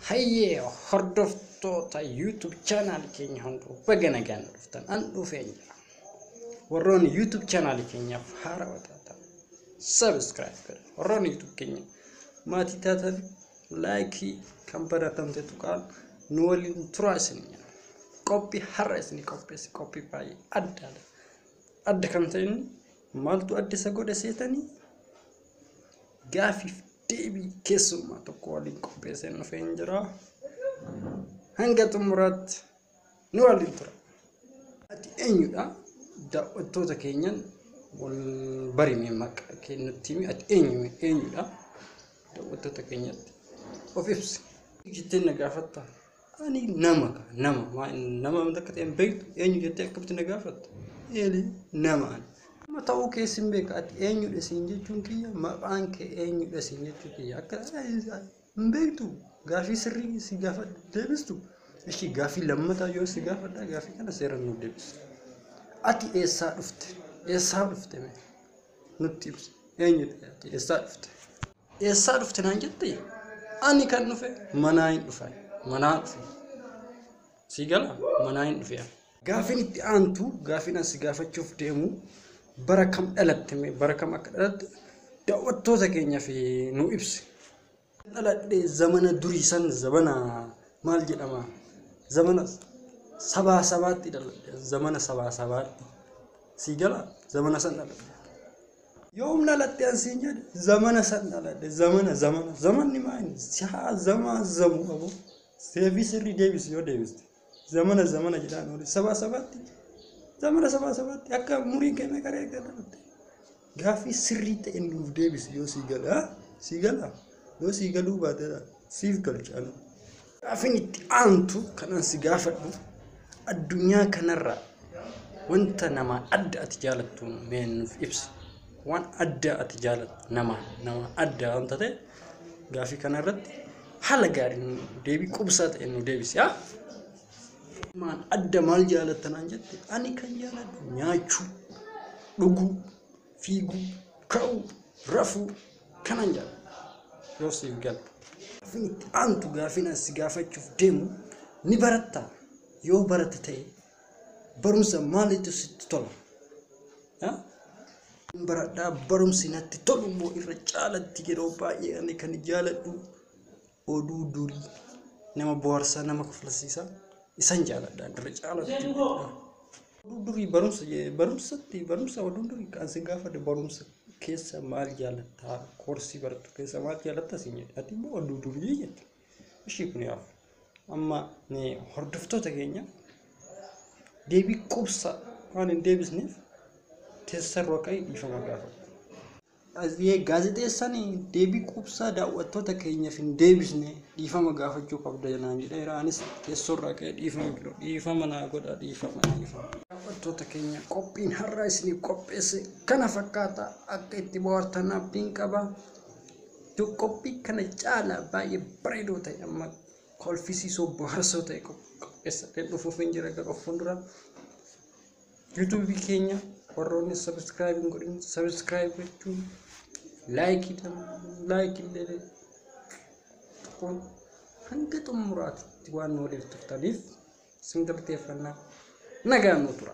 Hayyee hordoftoota YouTube channel keenya hunduu baga nagaan nu dhuftan an dhufeen jira. Warroonni YouTube channel keenyaaf haarawaa taatan subscribe godha. Warroonni YouTube keenya maatii taatan laayikii kan baratamte tuqaan nu waliin turaa isin jenna. Qophii har'a isin qopheesse qophii baay'ee addaadha. Adda kan ta'e inni maaltu adda isa godhe seetanii gaafiif deebii keessummaa tokko waliin qopheesseen dhufee hin jira. Hanga xumuraatti nu waliin tura. Ati eenyudha? Daawwattoota keenyan wal barime maqaa kee nutti himi. Ati eenyu eenyudha? Daawwattoota keenyatti of ibsi. Jettee na gaafatta. Ani nama ka nama maa inni nama amta akka ta'e hin beektu eenyu jettee akkamitti na gaafatta? Eeli nama ani. Nama ta'uu kee sin beeka ati eenyudha siin jechuun kiyya maqaan kee eenyudha siin jechuu kiyya akka hin beektu gaafii sirrii si gaafadha deebistu. Ishii gaafii lammataa yoo si gaafadha gaafii kana seeraan nuuf deebisi. Ati eessaa dhufte? Eessaa dhufte mee? nutti ibsi eenyu taate eessaa dhufte eessaa dhufte naan jette ani kan dhufe manaa hin dhufe manaa dhufe sii gala manaa hin dhufe gaafin itti aantu gaafin asi gaafachuuf deemu bara kam dhalatte bara kam akka dhalatte daawwattoota keenyaaf nu ibsi dhaladhe zamana durii san zamana maal jedhama zamana sabaa sabaatti dhaladhe zamana sabaa sabaatti sii gala zamana san dhaladhe yoom dhalatte an siin jedhe zamana san dhaladhe zamana zamana zamanni maayini sihaa zamaa zamu qabu deebii sirrii deebisi yoo deebiste Zamana zamana jedhaan oole. Sabaa sabaatti zamana sabaa sabaatti akka umuriin keenya gara eeggatamutti. Gaaffii sirrii ta'e nuuf deebisi yoo sii gala. haa? Sii gala? Yoo sii galuu baate dha. siif galcha ani. Gaaffiin itti aantu kan an si gaafadhu addunyaa kanarraa wanta namaa adda ati jaalattu mee nuuf ibsi. Waan addaa ati jaalattu namaa namaa addaa wanta ta'e Gaafii kana irratti haala gaariin deebii qubsaa ta'e nu deebisi. haa? Maan adda maal jaalatta naan jette ani kan jaaladhu nyaachuu, dhuguu, fiiguu, ka'uu, rafuu kanan jaaladha. Yoo siif gala. Gaafiin itti aantu gaafiin ani si gaafachuuf deemu ni baratta yoo barata ta'e Barumsa maaliitu sitti tola? Ah? Hin baradhaa barumsi natti tolu immoo irra caalatti yeroo baay'ee ani kan jaaladhu oduu durii nama bohaarsaa nama kofalsiisaa isan jaaladha irra caalatti jechuudha. Oduu durii barumsa je- barumsatti barumsa oduu durii kan si gaafadhe barumsa keessa maal jaalattaa koorsii barattu keessa maal jaalattaa siin jedhe ati immoo oduu durii jette. Ishii kun yaaf amma hordoftoota keenya deebii qubsa waan hin deebisneef teessarra waqa'i dhiifama gaafadha. Asiyee gaazexeessaan deebii qubsaa daawwattoota keenyaaf hin deebisne dhiifama gaafachuu qabda naan jedheera. Anis teessorraa ka'ee dhiifama godha dhiifama naa godha dhiifama dhiifama. Daawwattoota keenya qophiin har'aa isiniif qopheesse kana fakkaata akka itti bohaartan abdiin qaba. Iddoo qophii kana caalaa baay'ee bareedoo ta'e amma kolfisiisoo bohaarsoo ta'e qopheessadhee dhufuuf hin jira gara of fuuldura. Yuutuubii keenya warroonni sabiskiraayib hin godhin sabiskiraayib gochuun laayikii laayikii illee tokkoon hanga xumuraatti waan nu waliif turtaniif isin galateeffannaa nagaan nu tura.